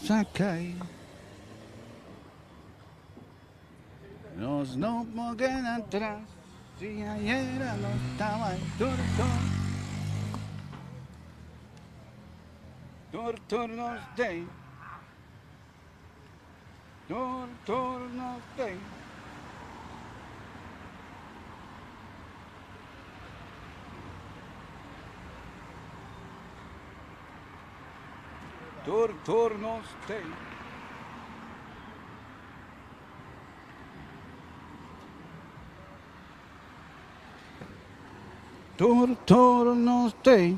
Sa kai Nos no por keda atras Si ayer no taba tur tur Tur tur nos dey Tur tur nos dey Tur, tur nos tei. Tur, tur nos tei.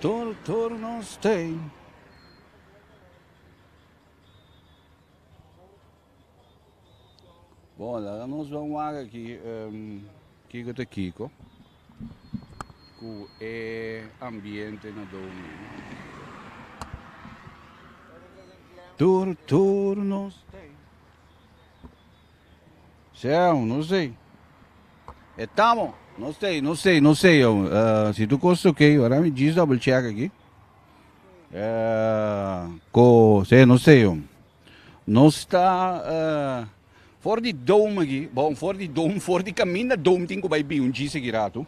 Tur turno stay. Bon, laga nos ban wak aki kiko ta kiko ku e ambiente na domi. Tur tur nos stay. Seu, no sei. Estamos. No sei, no sei, no sei. yo. Eh, si tu kost oké, ora mi jis double check aquí. Eh, ko, sei, no sei. yo. Nos ta for di dom aki, bon for di dom for di kaminda dom tin ku bai biun dji seki ratu.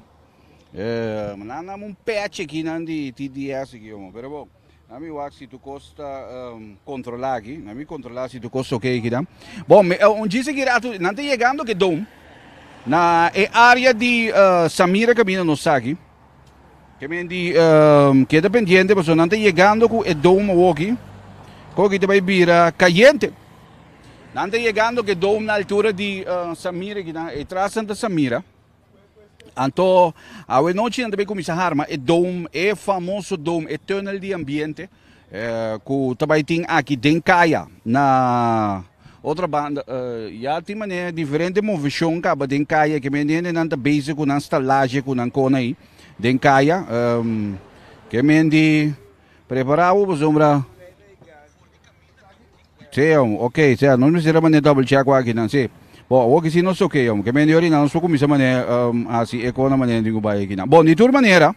Nan nam un pèchi aki nan di TDS aki omo pero bon nan mi wak si tur kos ta kontrolá aki nan mi kontrolá si tur kos ta oke aki nan. Bon un dji seki ratu nan ta yegando ke dom na e área di Samira kabinda nos sa aki. Kemendi keda pendiente pasobra nan ta yegando ku e dom awoki. Koki ta bai bira kayente. Nan ta yegando ku e dom na altura di Samira aki nan. E tras nan ta Samira. Anto awe nochi nan ta bai kuminsá harma e dom, e famoso dom, e tunnel di ambiente. Ku ta bai tin aki den kaya na otro banda ya tin manera diferente movishon kaba den kaya ke men hendenan ta bezi ku nan stalaje ku nan kona ei den kaya ke men di prepara bo pasobra si hombre ok sea nos mester a mane double check ku akinan si bo awor ke si nos oke hombre ke men di orinan nos por kumisa mane hasi e kona manera di ku bai aki nan bon di tur manera.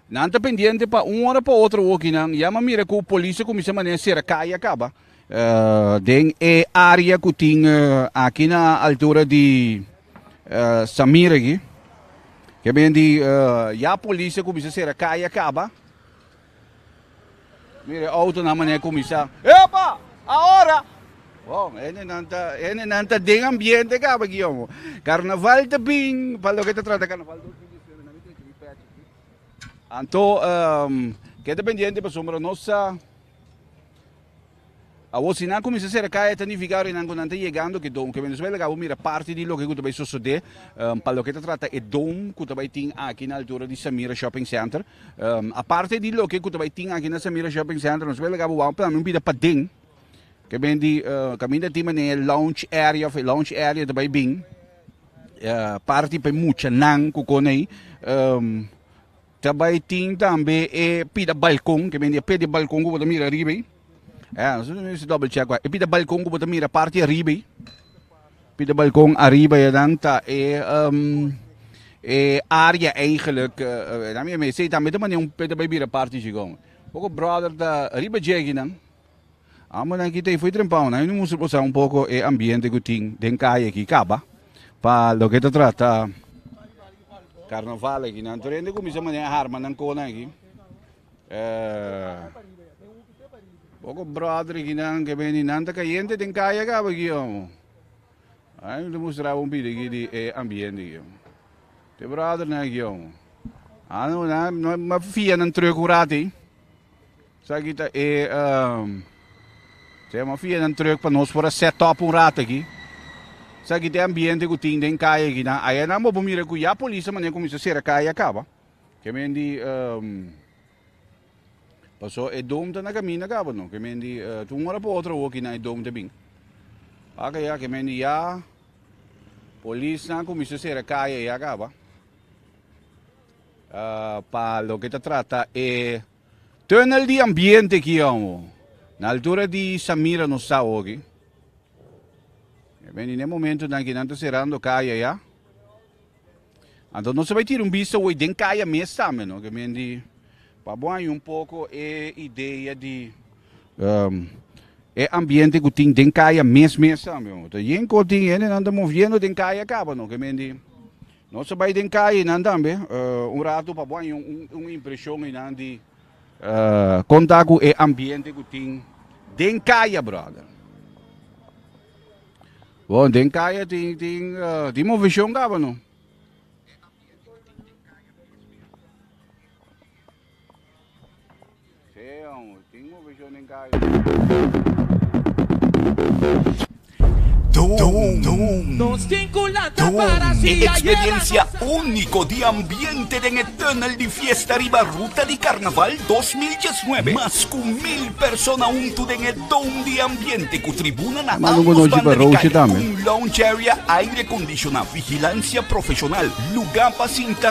Nan ta pendiente pa un ora pa otro hoki nan yama mira ku polis ta kuminsá manera sera kai a kaba den e área ku tin aki na altura di Samir aki ke bini di ya polis ta kuminsá sera kai a kaba. Mira e outonan manera kuminsá, Epa! Aora! Wow, hendenan ta, hendenan ta den ambiente kaba aki yòmò. Karnaval ta bin, pa loke ta trata karnaval dos mil diesinuebe nan a treke di pèch aki. Anto, keda pendiente pasobra nos sa A bocinan cuminsa cerca, e ta nifica ora e nan cu nan ta yegando cu e don, cu e Venezuela ta cabo mira parti di loke cu ta bay sosode pa loke ta trata e don cu ta bay tin aki na altura di Samira Shopping Center. Aparte di loke cu ta bay tin aki na Samira Shopping Center nos bay laga bo wak tambe un bida paden ke ben di caminda tin manera e lounge area of e lounge area ta bay bin parti pa e muchanan cu con ey. Ta bai tin tambe e pida balkon, ke mende e pedi balkon ku bo ta mira ariba ei. Eh, nosotros no hizo double check wak. E pida balkon ku bo ta mira parti ariba ei. Pida balkon ariba ei dan ta e ehm e área eigenlijk eh esnan mi a mester esei tambe ta manera un peda bai bira parti Chigón. Bo ku brother ta ariba djegi nan. Ambonan ki ta ifui trempao nan eno muster bosa un poko e ambiente ku tin den kaye aki kaba pa loke ta trata karnaval aki nan tur hende kuminsha manera harma nan konan aki e poko brother aki nan ke bini nan ta kayente den kaye kaba aki amo nan ta mustraba un bida aki di e ambiente aki amo te brother nan aki amo ano nan ma fia nan trek un rato ey. Esaki ta e tema fianan trug pa nos por a set up un rato aki. Esaki ta e ambiente ku tin den kaya aki. Na ayanan bo por mira ku ya polis ta manera kuminsá sera kaya a kaba. Ke men di pasó e dom ta na kaminda kaba no. Ke men di ta un ora pa otro awo kinan e dom ta bin. Wak ya ke men di ya polisnan kuminsá sera kaya ya kaba pa loke ta trata e. Tunnel di ambiente ki amo na altura di Samira nos ta ogi. E bini n'e momentonan ki nan ta serando kaya ya. Anto nos a bai tira un bista hoy den kaya mes tambe no, ke men di pa bo haña un poko e idea di e ambiente ku tin den kaya mes mes tambe. Ta yen kotin hendenan ta moviendo den kaya kaba no, ke men di. Nos a bai den cayenan tambe un ratu pa bo haña un impresion eynan di con ta cu e ambiente cu tin den caya, brother. Bon, den caya tin, tin, tin movesion caba no. E eksperensia úniko di ambiente den e Tunnel di Fiesta riba Ruta di Karnaval dos mil diesnuebe, mas ku mil persona huntu den e Dome di Ambiente ku tribuna na ámbos banda di kaya, ku un lounge area aire kondishoná, vigilansia profeshonal, lugá pa sinta,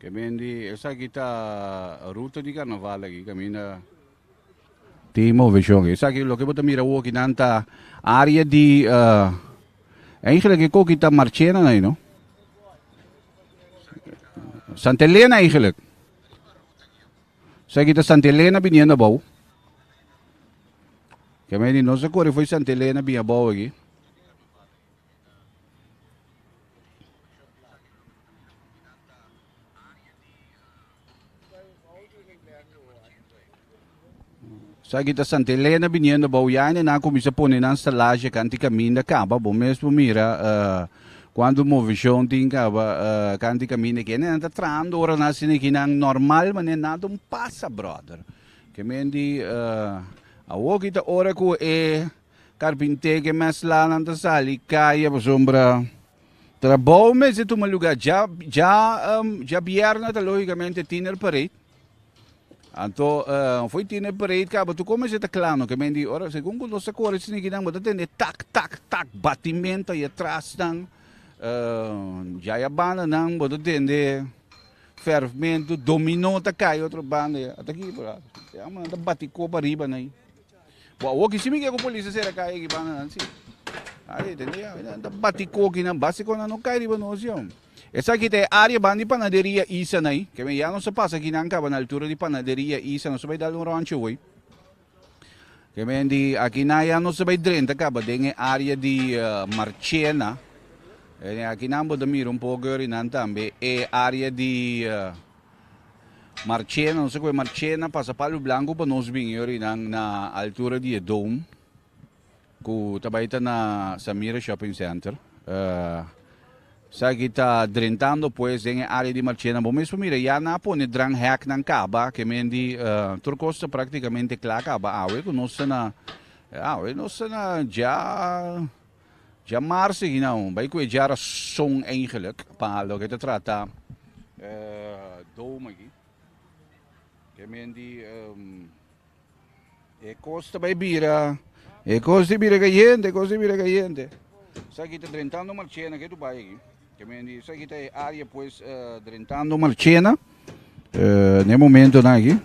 Kemen di esaki ta ruta di karnaval aki kaminda tin moveshon. Esaki loke bo ta mira woki nan ta área di eigenlijk e koki ta marchenan ay no. Santa Elena eigenlijk. Esaki ta Santa Elena biniendo abou. Kemen di nos a kore foi Santa Elena bin abou aki. So aki ta Santa Elena viniendo bou ya en nan comienza pone nan stalaje kanti kaminda kaba bo mes bo mira uh, cuando movision tin kaba uh, kanti kaminda ke nan ta trando ora na sine ki nan normal manen na don pasa brother ke men di uh, awo ki ta ora ku e Karpinté ke mès lanan ta sali kaya pasobra trabou mester tuma lugá dja dja dja bièrna ta lógikamente tiner pareit anto fo'i tiner pareit kaba tu kon mester ta kla no ke men di ora segun ku nos ta kore snikinan bo ta tende tak tak tak batimento ai atrasnan djai a bandanan bo ta tende fèrfmento dominó ta kai otro banda ya ataki por a e aman nan ta bati kop ariba nan ai. Bo a woki si mi ke ku polis a sera kai eki banda nan si. Ai tende ya nan ta bati koki nan basi kon nan no kai riba nos yo. Esaki ta e área ban di panaderia Isa nai. Ke men ya nos a pasa aki nan kaba na altura di panaderia Isa nos a bai dal un rònchi hoy. Ke men di aki nan ya nos a bai drenta kaba den e área di Marchena. Aki nan bo ta mira un poko ori nan tambe e área di Marchena, nos a koe Marchena, pasa Palo Blanco pa nos bin yori nan na altura di e dome ku ta bai ta na Samira Shopping Center. Uh, Saki ta drentando pues den e área di Marchena. Bo mesmo mira, ya na pone dran hack nan kaba, ke men di uh, tur kosta praktikamente kla kaba awe ku nos na awe nos na ja Dja marsi hinao bai ku e djara son eigenlik pa loke ta trata e doom aki. Ke men di e kos ta bai bira, e kos ta bira kayente, e kos ta bira kayente. Esaki ta Drentando Marchena ke tu bai aki. Ke men di esaki ta e área pues Drentando Marchena na e momentonan aki.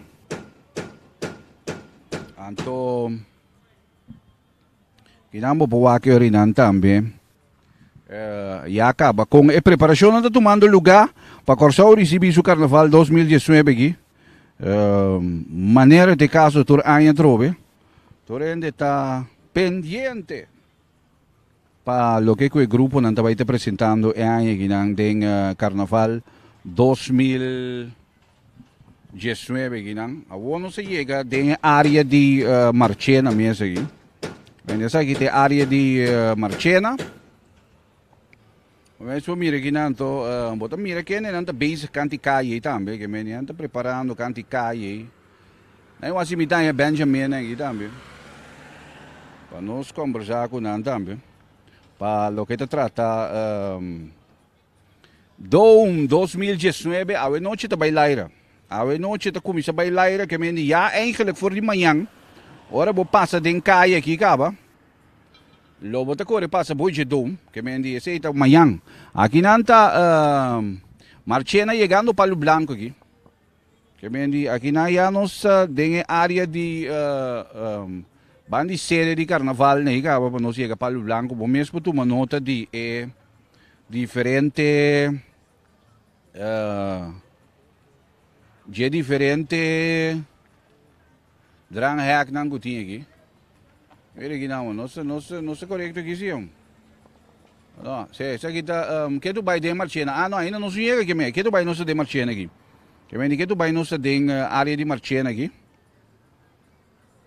Anto. Kinan bo por wak Yorinan tambe. Eh, ya kaba kon e preparashonnan ta tumando lugá pa Kòrsou risibí su Karnaval dos mil diesnuebe aki. Eh, manera t'e kaso tur aña atrobe, tur hende ta pendiente pa loke ku e gruponan ta bai ta presentando e aña akinan den Karnaval dos mil. Diesnuebe akinan. Awor nos a yega den e área di eh, Marchena mes aki. Wen esaki te área di eh, Marchena. Wen so mira akinan to, eh, bo ta mira kende nan ta bezig kanti kaye tambe, ke men nan ta preparando kanti kaye. Na yon así mi daña Benjamin aquí también. Pa nos conversar con nan también. Pa lo que te trata ehm, Doum dos mil diesnuebe awe noche ta bai laira. Awe noche ta kuminsá bai laira ke mende ya eingelek for di mañan ora bo pasa den kai aki kaba lo bo ta kore pasa Boije Doum ke mende esei ta mañan. Aki nan ta Marchena yegando Palu Blanku aki. Kemen di akinan ya nos ta den e área di ban di serie di karnaval na Higaba pa nos yega Palu Blanku. Bo mes por tuma nota di e diferente dje diferente. Dran hek nan cu tin aki. Mira aki nan man. No ta corecto aki si hombre. No. Sey esaki ta ke tu bay den Marchena. Ah no ainda nos no yega aki me. Ke tu bay nos ta den Marchena aki. Ke menti ke tu bay nos ta den area di Marchena aki.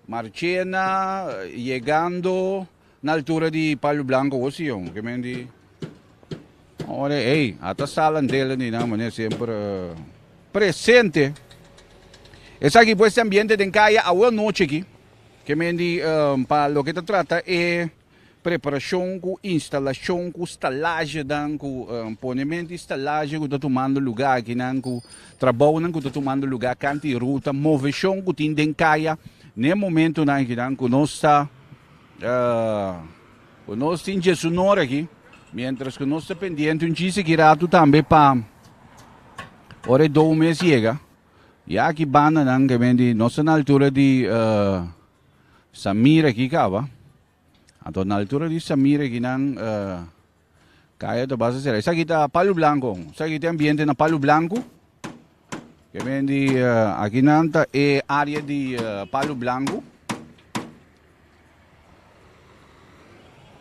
Marchena yegando. Na altura di Palo Blanco hosi yon, ke men di ora ei, ata Salan Dela ni nan mane semper presente. Esaki pues te ambiente den kaya awo noche ki, ke men di pa loke ta trata e preparashon ku instalashon ku stalajenan ku ponemento di stalaje ku ta tumando luga akinan ku trabounan ku ta tumando luga kanta di ruta, moveshon ku tin den kaya n'e momentunan akinan ku nos ta. Ku nos tin Jesu nor aki, miéntras ku nos ta pendiente un chis aki ratu tambe pa ora e dou mes yega. Ya aki bandanan ke men di nos ta na altura di Samir aki kaba. Anto na altura di Samir aki nan. Kaya ta basa sera. Esaki ta palu blanku. Esaki ta ambiente na palu blanku. Ke men di uh, aki nan ta e area di uh, palu blanku.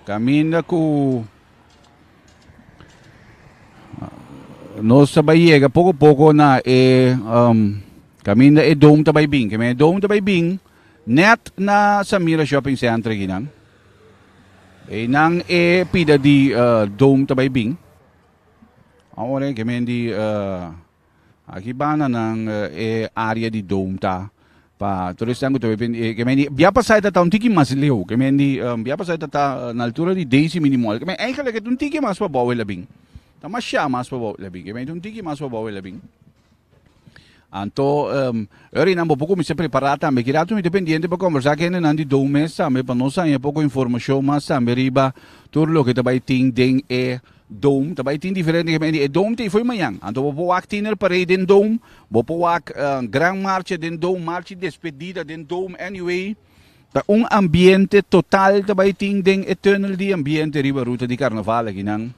Kaminda ku nos ta bai yega poco poco na e um, caminda e dom ta bai bin. Que me dom ta bai bin net na Samira Shopping Center aquí nan. Einan e pida di Dome ta bai bin. Awor e gemen di aki banda nan e area di Dome ta pa tur esnan ku ta bai bin. E gemen di bia pasai ta ta un tiki mas leu. Gemen di bia pasai ta ta na altura di Daisy mini mall. Gemen eigenlijk e ta un tiki mas pa bou e la bin. Ta masha mas pa bou e la bin. Gemen ta un tiki mas pa bou e la bin. Anto, um, Rinan, bo poco mester prepará tambe. Kira tu mi dependiente pa conversar que nan di do mes tambe, pa nos anje poco información mas tambe riba tur lo que tabai tin den e dome. Tabai tin diferente que men e dome te foi mañan. Anto bo po wak tiner parade den dome, bo po wak uh, gran marcha den dome, marcha despedida den dome, anyway. Ta un ambiente total tabai tin den e tunnel di ambiente riba ruta di carnaval aquí nan.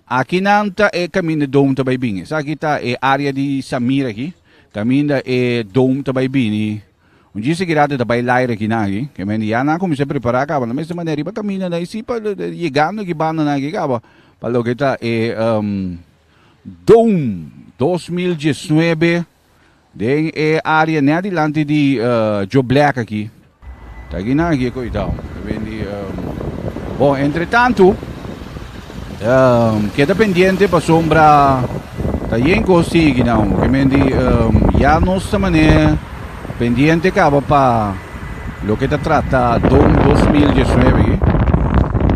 Aki nan ta e kaminda Dome ta bai bini. Esaki ta e área di Samir aki, kaminda e Dome ta bai bini. Un djis seguidat e ta bai laira aki nan aki. Ke mende ya nan a kuminsá prepará kaba na mester manera riba kaminda nan. I si pa yegando ki bandanan aki kaba pa loke ta e Dome dos mil diesnuebe. Den e área net dilanti di Joe Black aki, ta gin nan aki koitao, ta bindi. Bon, entretantu, keda pendiente pasobra ta yen kos tin aki nan. Ke mende ya nos ta manera pendiente kaba pa loke ta trata don dos mil diesnuebe aki.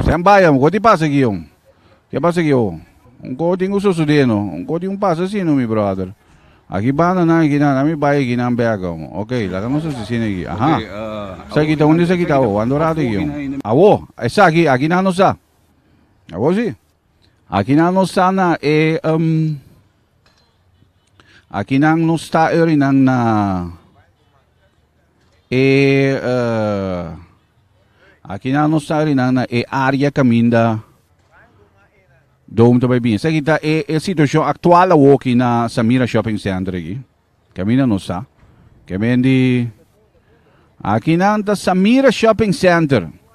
Stambai, amo, kote pasa aki, jom? Ke pasa aki awo? Un kos tin ku sosodé no. Un kos tin ku pasa asina no, mi bròder. Aki banda nan, aki nan, ami bai aki nan bèk awo. Oke, laga nos hasi sina aki. Aha. Esaki ta unda esaki ta awo? Wanda ora ta aki awo? Awo, esaki, aki nan nos sa. Awo si. Aki nan nos sa na e, um, aki nan nos ta e orinan na. E aki nan nos ta rinan na e área kaminda Dome ta bai bien. Sa kita e e situacion actual awoki na Samira Shopping Center aki. Kaminda nos ta. Kemendi aki nan ta Samira Shopping Center.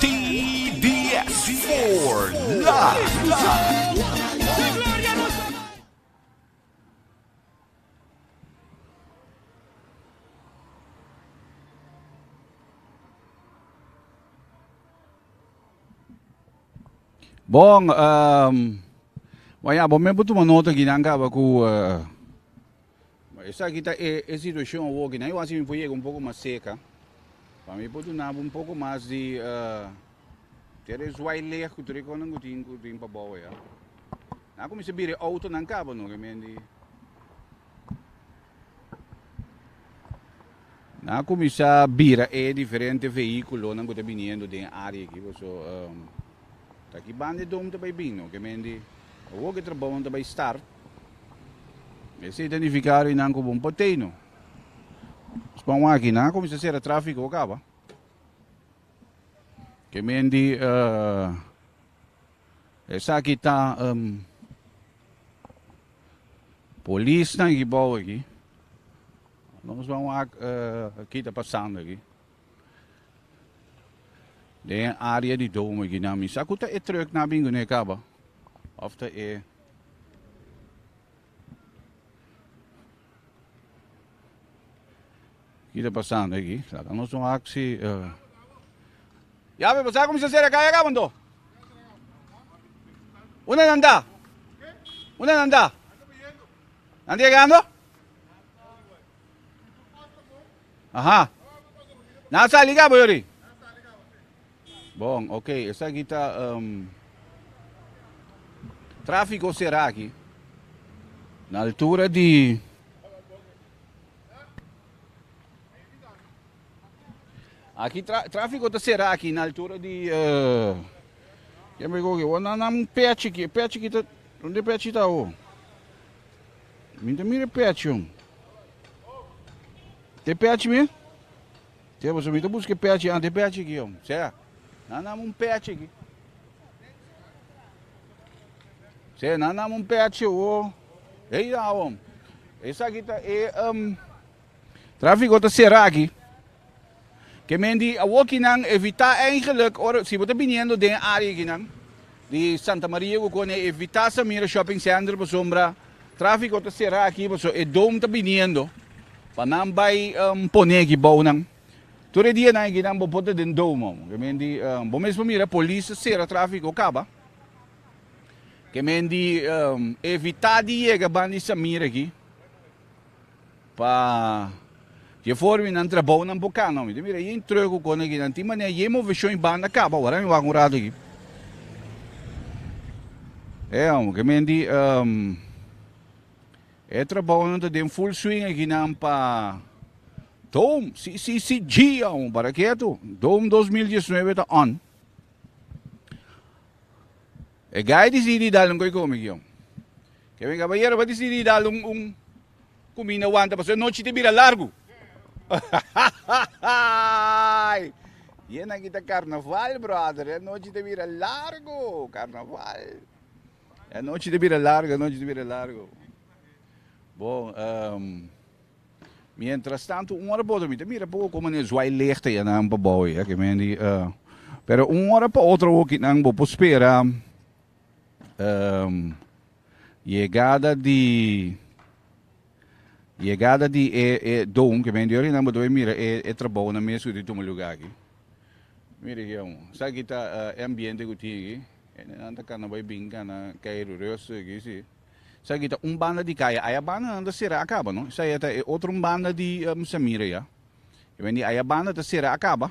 TDS for life. Bon, Wayabo, me por tuma nota aki nan caba cu. Bo esaki ta e e situacion awor ki nan yo hasi mi por yega un poco mas cerca pa mi por duna bo un poco mas di ter e zwai lech cu tur e cosnan cu tin cu tin pa bow ya. Nan a cuminsa bira e autonan caba no ke men di nan a cuminsa bira e diferente vehiculonan cu ta biniendo den e area aki bo so. Ta ki banda e dom ta bai bini, no kemendi e wok e trabounan ta bai start. Esei ta nifiká rinan ku bon potei, no? Nos pon wak-aki, nan a kuminsá sera tráfiko o kaba. Kemendi esaki ta polisnan ki bou aki, nos pon wak ki ta pasando aki. Den e área di Dome Guinea mi sa ku ta e truk na bingu ne kaba of ta e Ki ta pasando aki? Laga nos un aksi. Uh. Ya be pasá kumsa sera kaya ka bando. Una nanda. Una nanda. Nanda llegando? Aha. Nan sali cabo yori? Bon, ok. Esa aquí está um, tráfico será aquí. Na altura di Aki trafiko ta sera aki na altura di ken bai koke wak nan un pech aki e pech aki ta donde e pech aki ta awo mi ta mira e pech yon ta e pech mi sia pasobra mi ta buska e pech a ta e pech aki yon sea nan nam un pech aki sea nan nam un pech awo ey awor esaki ta e. Tráfiko ta sera aki. Ke men di awokinan evitá eigenlijk ora si bo ta biniendo den e área akinan di Santa Maria ku Kone evitá Samira Shopping Center pasobra tráfiko ta sera aki paso e dom ta biniendo pa nan bai pone aki bou nan. Tur e dianan akinan bo por ta den dom amo. Ke men di bo mes por mira polis ta sera tráfiko kaba. Ke men di evitá di yega ban di Samira aki. Pa dje formi nan trabou nan boka no mi ta mira yen treu ku kos nan ki nan tin manera yen moveshon i banda kaba ora mi wak un rato aki e amo ke menti um, e trabou nan ta den full swing aki nan pa Dome CCCG amo para ketu Dome 2019 ta on E gai disidí dal un goi komi, Gion. Ke men kaba yerba disidí dal un un kuminda wanta pasobra e nochi ta bira largu. Hahahaai! Yen aki ta karnaval, brother. E nochi ta bira largu. Karnaval. E nochi ta bira largu, e nochi ta bira largu. Bon, ehm. Mientras tanto un ora pa otro mi ta mira poco como ne zwai lichten ya nan pa bou ya que men di uh, pero un ora pa otro hoki nan bo por spera um, llegada di llegada di e e dom que men di ori nan bo debe mira e e trabou na mes di tuma lugar aquí mira aquí amo sa aquí ta uh, ambiente que tin aquí en nan ta cana bai bin cana cairo resto aquí sí Esaki ta un banda di kaya. Aya banda nan ta sera a kaba no. Esaya ta e otro un banda di Mr. Mira ya. E wen di aya banda ta sera a kaba.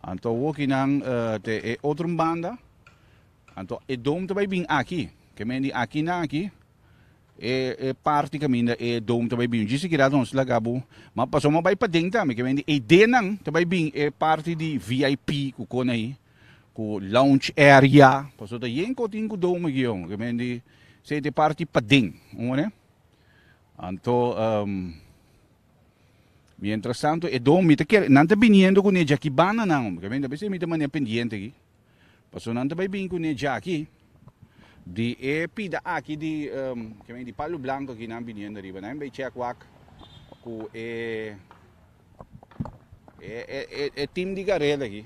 Anto woki nan ta e otro un banda. Anto e dom ta bai bin aki. Ke men di aki nan aki. E parti kaminda e dom ta bai bin. Djis sikiera ta nos laga bo. Ma paso ma bai paden tambe. Ke men di e de nan ta bai bin e parti di VIP ku kona ayi. Ku lounge area. Paso ta yen kotin ku dou megion. Ke men di sey te parti paden. Un manera. Anto um mientras tanto e dou mi ta kere nan ta biniendo ku ne djakibananan hombre. Ke men di a bese mi ta mane pendiente aki. Paso nan ta bai bini ku ne djaki di e pida aki di um ke men di palu blanko aki nan biniendo ariba. Nan bai check wak ku e. E team di Garel aki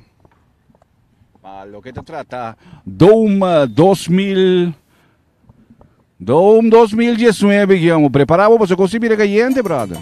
ma loke ta trata Dome 2000 Dome 2019 ki amo prepara bo paso kosi bira kayente brother.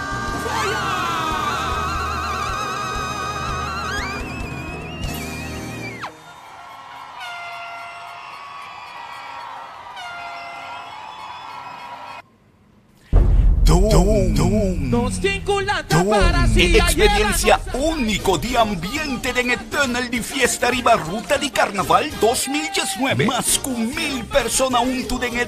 E eksperensia úniko di ambiente den e Tunnel di Fiesta riba Ruta di Karnaval dos mil diesnuebe. Mas ku mil persona huntu den e.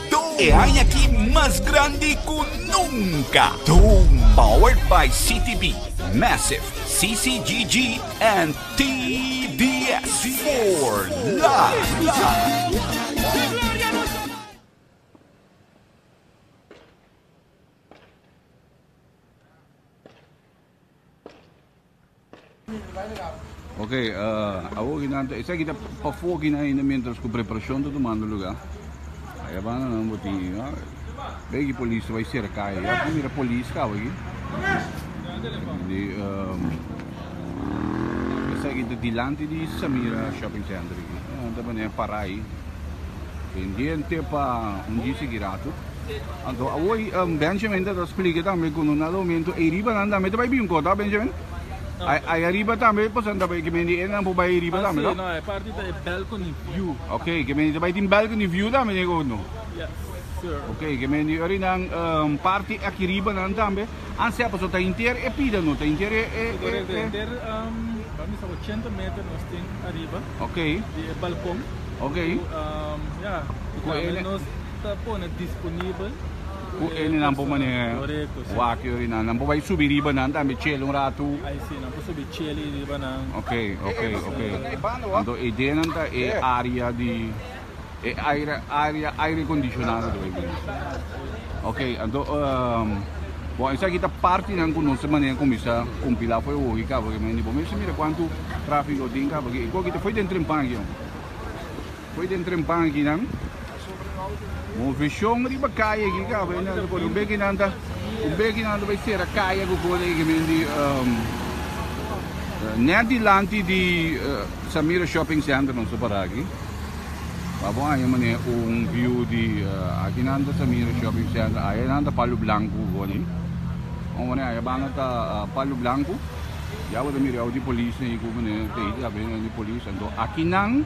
E haña aki mas grandi ku nunka! Doom! Powered by CTB, Massive, CCGG and TDS. For Life! Oke, uh, awor ki nan ta, esa ki ta pa for ki nan ainda mientras ku preparashon ta tumando luga. Aya banda nan bo tin, ya. Be ki polis ta bai serka, ya ku mira polis ka bai. Di, um, esa ki ta dilanti di Samira Shopping Center ki. Nan ta bane parai. Tendente pa un di sikiratu. Anto awor Benjamin ta ta splica tambe cu no na lominto ey riba nan tambe ta bay bincor ta Benjamin? Ay ariba tambe pasobra nan ta bay mendi ey nan por bay riba tambe ta? No e parti ta e balcony view. Ok ke mendi ta bay tin balcony view tambe den e cono? Yes sir. Ok ke mendi ori nan parti aki riba nan tambe a sea pasobra ta henter e pida no ta henter e e. Correcto ta henter a misa ochenta meter nos tin ariba di e balcon cu ya y tambe nos. Ta pone disponibel ku e nan por mane wak yori nan. Nan por bai subi riba nan tambe chele un ratu. Ai si, nan por subi chele riba nan. Ok, ok, ok. Anto e idea nan ta e area di e aire area aire acondicionado ta bai bini. Ok, anto bon esaki ta partinan ku nos mane kuminsa kumpila afo'i wohi kaba ke mende. Bo mester mira kuantu trafiko tin kaba ke. Ku aki ta fo'i den Trempan aki. Fo'i den trempan aki nan. Moveshon riba kaya aki ka. Fo'i nan ta kore un beki nan ta un beki nan ta bai sera kaya ku kore aki men di net dilanti di Samira Shopping Center nan so para aki. Pa bo aña mane un view di aki nan ta Samira Shopping Center aya nan ta Palu Blanku ku kore aki. Bo mane aya banda ta Palu Blanku. Ya bo ta mira awe di polis nan i ku mane ta hita. Bo ta mira nan di polis. Anto aki nan.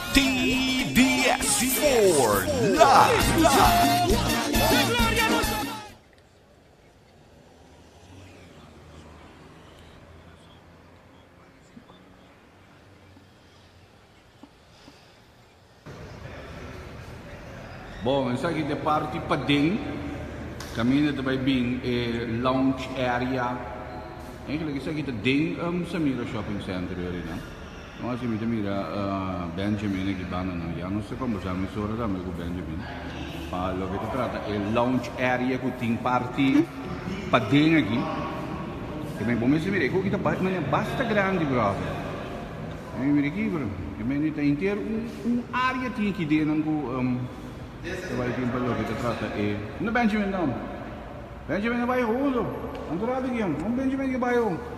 TDS for life. Bon, esaki ta e parti paden, caminda ta bay bin e lounge area. Eigenlijk esaki ta den Samira Shopping Center yorinan. Con así mi ta mira Benjamin aki bandanan. Ya nos ta conversa mesora tambe cu Benjamin pa loke ta trata e lounge area cu tin parti paden aki. E mei bo mester mira e coki ta basta grandi brother. Mi ta mira aquí pero e mei ni ta henter un area tin aki denan cu ta bay tin pa loke ta trata e. Unda Benjamin ta? Benjamin a bay hondo. Anto rato aki? Con Benjamin aki a bay ho?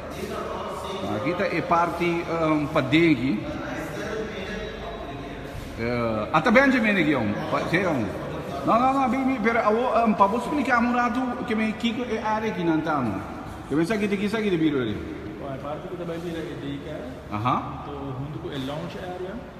Aki ta e parti padegi. Ata Benjamin aki aun. Te aun. No no no bin bin pero awo pa bo splikami un ratu ke me kiko e area aki nan ta no. Ke me sa kiti ki sa ki ta bira ori. Bon e parti ku ta bai bira e daycare. Aha. Junto ku e lounge area.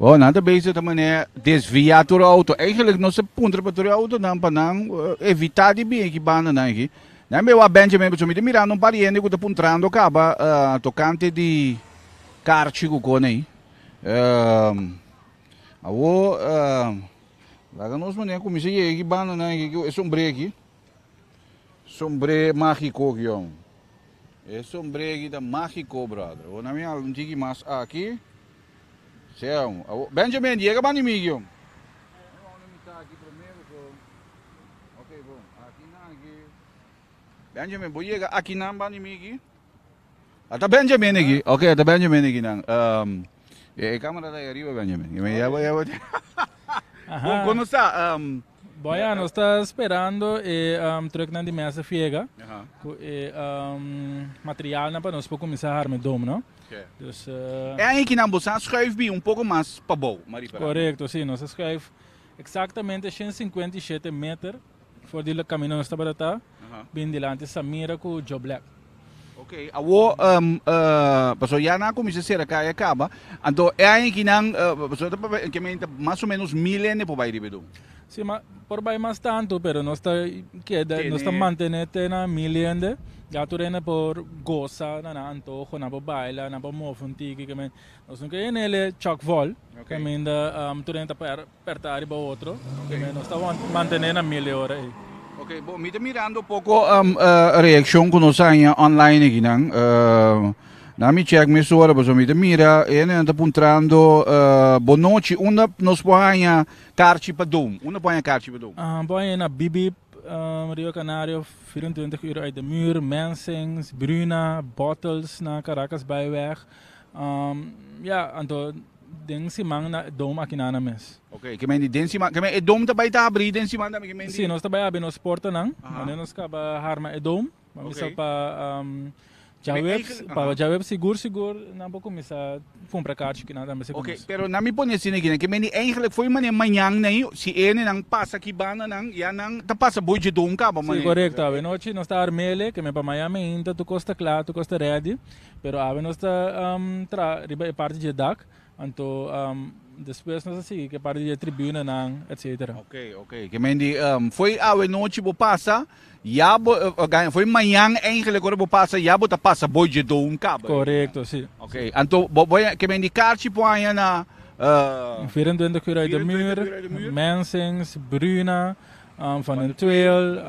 Oh, nan ta bezig ta mané desvia tur e auto. Eigenlijk nos ta puntra pa tur e autonan pa nan eh, evitá di bin eki bandanan eki. Nan be wak Benjamin pasobra mi ta mirando un par hende ku ta puntrando kaba ah, tokante di karchi ku kona ei. Awor, laga nos mania cuminsa yega aki banda nan aki cu e sombre aki. Sombre magico aki hombre. E sombre aki ta magico brother. Awor nan mira un tiki mas aki. Sea hombre. Awor, Benjamin, yega bandi mi aki hombre. Nan wou na misa aki primero so. Oke, bon. Aki nan aki. Benjamin, bo yega aki nan bandi mi aki. Ata Benjamin aki, ok ata Benjamin aki nan. Um, e, e camera ta arriba Benjamin. Yo me llevo, llevo. Con, con nos está, um, Boya, nos está esperando e um, truck nan di Mesa Fiega. Aha. Cu e um, material nan pa nos por comenzar a arme dom, no? Okay. Dus, uh, E aí que nan bosan schuif bi un poco más pa bow, Marie Peralta. correcto, sí, nos schuif exactamente 157 meter. For di camino nos tabata ta, bin dilanti Samira cu Joe Black. Ok, awo, um, uh, paso ya na comienza cera ca ya caba, anto e aña ki nan, uh, paso ta papel, que menta más o menos mil ene por bai ribedo. Sí, ma por bai más tanto, pero nos ta queda, Tene. nos ta mantener tena mil ende, ya tu rende por goza, na na antojo, na por baila, na por move un tiki, que men, nos nunca enele Chuck Vol, Ok. que men da, um, tu rende ta per, Perta ariba otro, promé nos ta mantené na mil e ora ei. Ok, bo, mi ta mirando poko reaccion cu nos a haña online ekinan. Na mi check mes ora, pasobra mi ta mira e hendenan ta puntrando bo nochi, unda nos por haña carchi pa dom? Unda por haña carchi pa dom? Bo a haña na Bibib, Rio Canario, vierenentwentig uur uit de muur, Mensings, Bruna, Bottles na Caracas Bijweg. Ja, anto Den siman na dom akinana mes. Ok, ke menti den siman, ke men e dom ta bai ta abri den siman tambe ke menti? Si, nos ta bai abri nos portanan, wanneer nos kaba harma e dom, pa misa pa djaweps, pa djaweps sigur sigur nan por kuminsá kumpra karchi kinan tambe si Ok, pero nan mi pone asina aki, nan ke menti eigentlik for di manera mañan na ei, si e hende nan pasa aki banda nan, ya nan ta pasa boy dje dom kaba. Si, korekto, awe nochi nos ta arm'ele, ke men pa mañan men hinta tur kos ta kla, tur kos ta redi. Pero awe nos ta traha riba e parti dje dak, anto despues nos a sigui ku e parti dje tribunanan, etcetera. Ok, ok. Ke men di, foi awe nochi bo pasa, ya bo, gan, foi mañan eigenlijk ora bo pasa, ya bo ta pasa boi dje doun kaba. Korekto, si. Ok, anto bo, bo, ke men di karchi por haña na, Di Vier en Twintig Kura uit de Muur, Mensings, Bruna, Van den Tweel,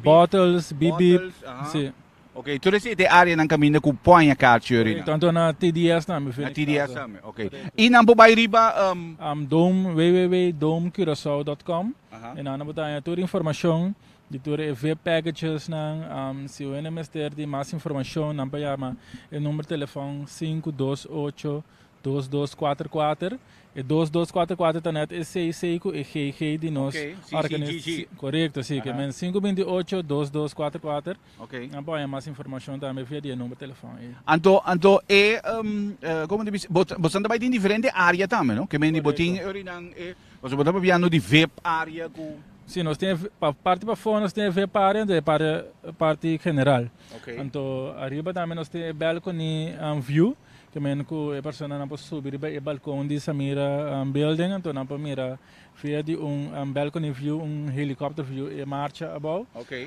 Bottles, Bip Bip, si. Ok, tur es te areanan caminda cu por haña carcheury nan? Tanto na TDS tambe, Phoenix Plaza. Na TDS tambe, ok. Y nan por bay riba... Um, Dome, www.domecuraçao.com. Aha. Y na nan por ta haña tur informacion di tur e vip packages nan. Um, si hoen e mester di mas informacion, nan por yama e number telefon sinku dos ocho Dos dos kuater kuater, e dos dos kuater kuater ta nèt e sei sei ku e gei gei di nos Okay, sí, sí, organi- sí, sí. si- Korekto, si. Ke men sinku binti ocho, dos dos kuater kuater. Ok. Nan por haña mas informashon tambe via di e number telefòn ei. Anto, anto e, em, eh, komo ta bisa, bo- bosan ta bai den diferente área tambe, no? Ke men di bo tin Korekto. ori nan e, pasobra bo ta papiando di vep área ku. Si, nos tin e, ve- pa parti pafó nos tin e vep área enton e pare parti general. Ok. Anto ariba tambe nos tin e balcony, em, view. Ta mihando ku e personanan por subi riba e balkon di Samira Building anto nan por mira via di un balcony view, un helikòpter view e marcha abou.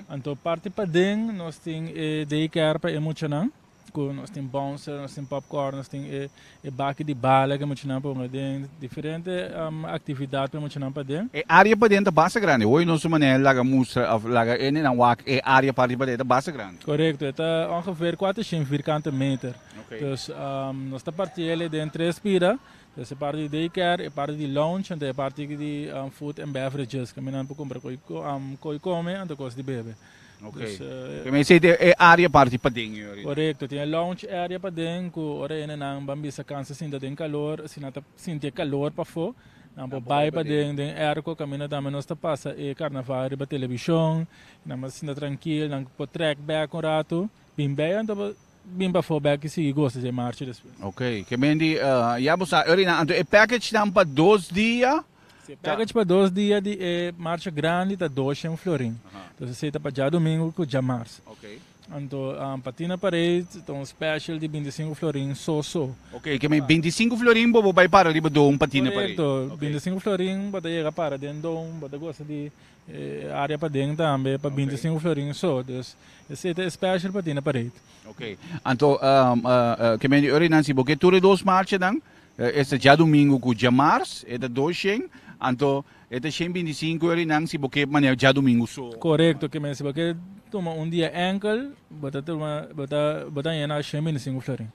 Anto parti paden nos tin e day care pa e muchanan ku nos tin bouncer, nos tin popcorn, nos tin e e baki di bala ku e muchanan por hunga den, diferente aktividat pa e muchanan paden. E área paden ta basta grandi. Hoy nos su manera laga mustra òf laga hende nan wak e área pa riba de ta basta grandi. Korekto, e ta ongeveer kuatershien vierkante meter. Dus nos ta parti el den tres bida, dus e parti di day care, e parti di lunch anto e parti di food and beverages, ku minan por kumpra ku e kome anto kos di bebe. Ku me esei tin e área parti paden ei oridad. Korekto, tin e lunch area paden ku ora e nenan ban bisa kansa sinta den kalor, asina ta sinti e kalor pafó, nan por bai paden den airco, kaminda tambe nos ta pasa e karnaval riba televishon, nan mester sinta trankil, nan por trèk bèk un ratu, bin bai anto bo Bin pafó bèk i sigui gosa dje marchi despues. Ok, ke ben di ya bo sa Urinan. Anto e package nan pa dos dia Si e package pa dos dia di e marcha grandi ta doshen florin. Entonces esei ta pa djadomingu ku djamars. Ok. Anto pa Tina Parade ta un special di bintisinku florin so so. Ok, ke ben bintisinku florin bo bo bai para riba Doum pa Tina Parade. Korekto, bintisinku florin bo ta yega para den Doum, bo ta gosa di E area paden tambe pa binti sin uferin so. Dus esei ta e special pa tine parade. Oke. Anto Kemendi Uri nan si bo ke tur e dos marchanan, e ta djadumingu ku djamars, e ta dos shen, anto e ta shen binti sinku uri nan si bo ke manera djadumingu so. Korekto Kemendi. Si bo ke tuma un dia enkel, bo ta tuma bo ta bo ta yena shen binti sinku uferin.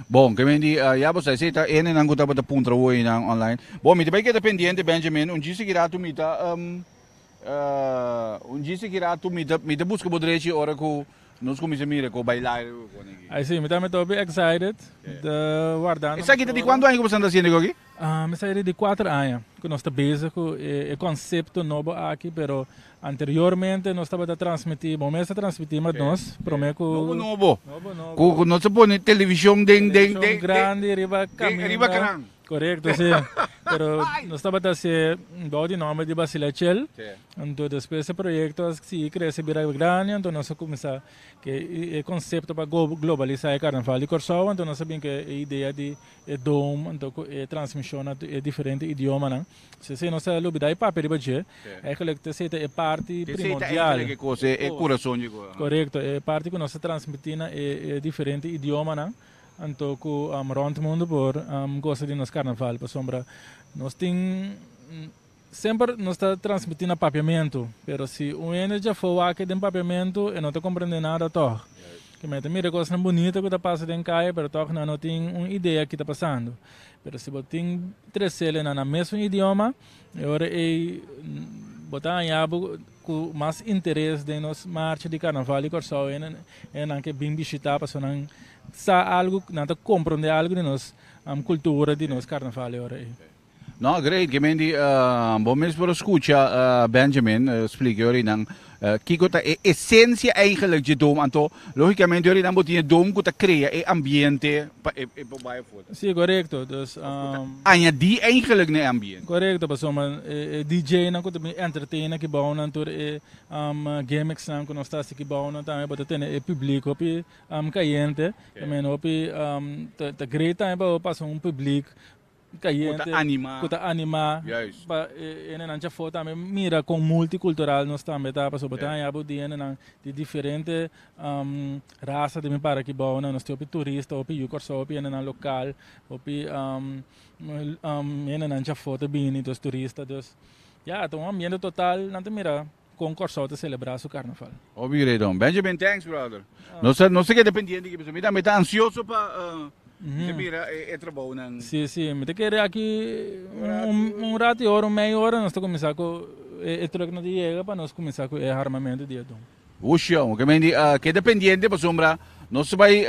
Bon, kemén di ya bo sa esei ta ene nan ku tabata puntra woi nan online. Bon, mi ta bai keda pendiente Benjamin, un djis sikiratu mi ta un djis sikiratu mi ta mi ta buska bo drechi ora ku nos kuminsha mira ku bai laira bo pone aki. Ai si, mi tambe ta hopi excited, mi ta wardando. Esaki ta di kuantu aña ku bo sa ta hasiendo e goki? Mi sa e di kuater aña ku nos ta bezig ku e konsepto nobo aki, pero anteriormente nos tabata transmití, bo mester transmití ma nos promé ku. Nobo nobo. Nobo nobo. Ku nos a pone televishon den den den. Televishon grandi riba kaminda. Riba kanan. Korekto si. Pero nos tabata hasié bou di nòmber di Basile Achel. Si. Anto despues e proyekto a sigui krese bira grandi, anto nos a kuminsá ku e konsepto pa globalisá e karnaval di Kòrsou, anto nos a bin ku e idea di. e dom anto ku e transmishon na e diferente idiomanan. Si esei nos ta lubidá e papia riba dje, eigenlijk ta esei ta e parti primondial. Esei ta eigenlijk e kos, e kurason dje kos. Korekto, e parti ku nos ta transmití na e diferente idiomanan anto ku rònt mundu por gosa di nos karnaval. Pasobra nos tin. Semper nos ta transmití na papiamentu, pero si un hende dja afó wak den papiamentu, e no ta komprendé nada tòg. Ke mi a ta mira kosnan bunita ku ta pasa den kai, pero tòg nan no tin un idea ki ta pasando. Pero si bo tin tres selenan na mesun idioma, e ora ei bo ta hañá bo ku mas interes den nos marcha di karnaval di Kòrsou, hendenan ke bin bishitá pasobra nan sa algu, nan ta komprondé algu di nos kultura, di nos karnaval e ora ei. No, great, Gemendi, bo mes por a scucha Benjamin splica ori nan kiko ta e esencia eigenlijk dje dom, anto logicamente ori nan bo tin e dom ku ta crea e ambiente pa e e bo bai afuer. Si, korekto, dus Añadi eigenlijk na e ambiente. korekto, pasobra e e DJnan ku ta bin entertain aki bou nan tur e gimmicksnan ku nos ta hasi aki bou nan tambe bo ta tene e publiek hopi cayente, tambe hopi ta ta great tambe pa bo pasa un publiek. ku ta animá. Ku ta animá. Juist. Pa e hendenan cha for tambe mira kon multikultural nos tambe ta, pasobra bo ta haña bo di hendenan di diferente rasa ta bin para aki bou nan. Nos tin hopi turista, hopi yu Kòrsou, hopi hendenan lokal, hopi hendenan cha for ta bini, dus turista. Dus, ya, ta un ambiente total nan ta mira. Kon Kòrsou ta selebrá su karnaval? Hopi grei Don Benjamin, thanks brother. Nos nos ta keda pendiente aki pasobra mi tambe ta ansioso pa ta mira e trabounan. Si si mi ta kere aki un ratu y ora un medio ora nos ta kuminsá ku e truck nan ta yega pa nos kuminsá ku e armamento di e Don. Ushio, oke mendi keda pendiente pasobra nos bai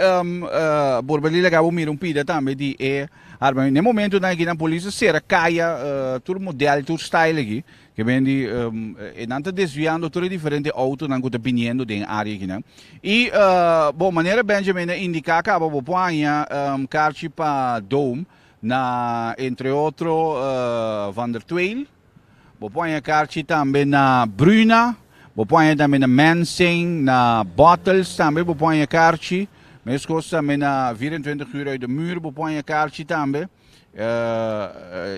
por bali laga bo mira un pida tambe di e armamento. Na e momentonan aki nan polis ta sera kaya tur modèl tur style aki Ke men di e nan ta desviando tur e diferente outonan ku ta biniendo den e área akinan. I bon manera Benjamin a indiká kaba bo por haña karchi pa Dome na entre otro Van der Tweijl, bo por haña karchi tambe na Bruna, bo por haña tambe na Mensing, na Bottels tambe bo por haña karchi, meskos tambe na 24 uur uit de muur bo por haña karchi tambe.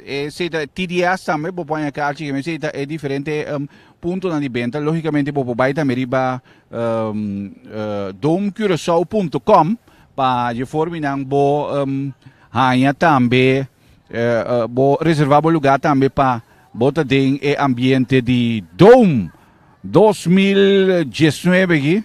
e seta TDS tambe bo puede acá aquí me seta e diferente um, punto na di venta lógicamente bo puede también riba um, uh, domcuracao.com pa je formi nan bo um, hanya tambe uh, uh, bo reserva bo lugar tambe pa bota den e ambiente di Dome 2019 aquí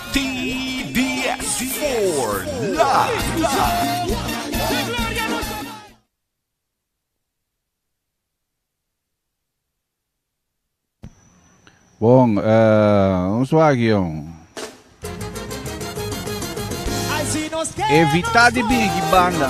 TDS for life. Bon, eh, un suagion. Evita di bini ki banda.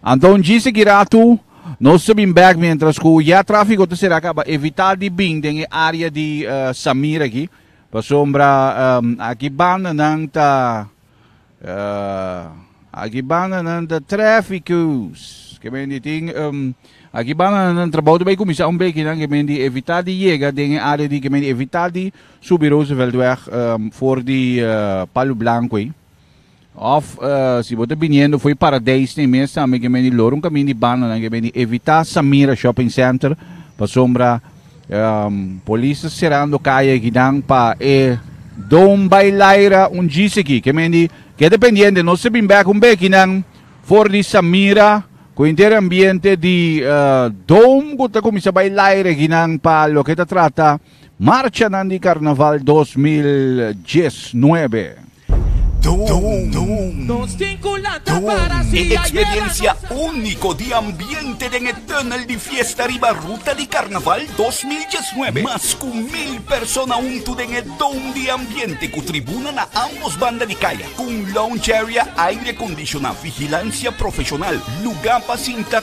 Anto un djis e kiratu nos ta bin bek mientras cu ya trafico ta sera caba evita di bin den e area di Samir aki pasobra aki bandanan ta aki bandanan ta traficus ke men di tin aki bandanan trabao ta bay cuminsa un beki nan ke men di evita di yega den e area di ke men di evita di subi Rooseveltweg for di Palo Blanco ayi. Òf si bo ta biniendo fo'i Paradijs n'e mes tambe ke men di lor un kaminda di bandanan ke men di evitá Samira Shopping Center pasobra polis ta serando kaya akinan pa e Don Bailaira ungís aki. Ke men di keda pendiente nos ta bin bèk un bekinan for di Samira ku henter ambiente di Don ku ta kuminsá bailaira akinan pa loke ta trata marchanan di Karnaval dos mil diesnuebe. E eksperensia úniko di ambiente den e Tunnel di Fiesta riba Ruta di Karnaval dos mil diesnuebe. Mas ku mil persona huntu den e dome di ambiente ku tribuna na ámbos banda di kaya, ku un lounge area aire kondishoná, vigilansia profeshonal, lugá pa sinta,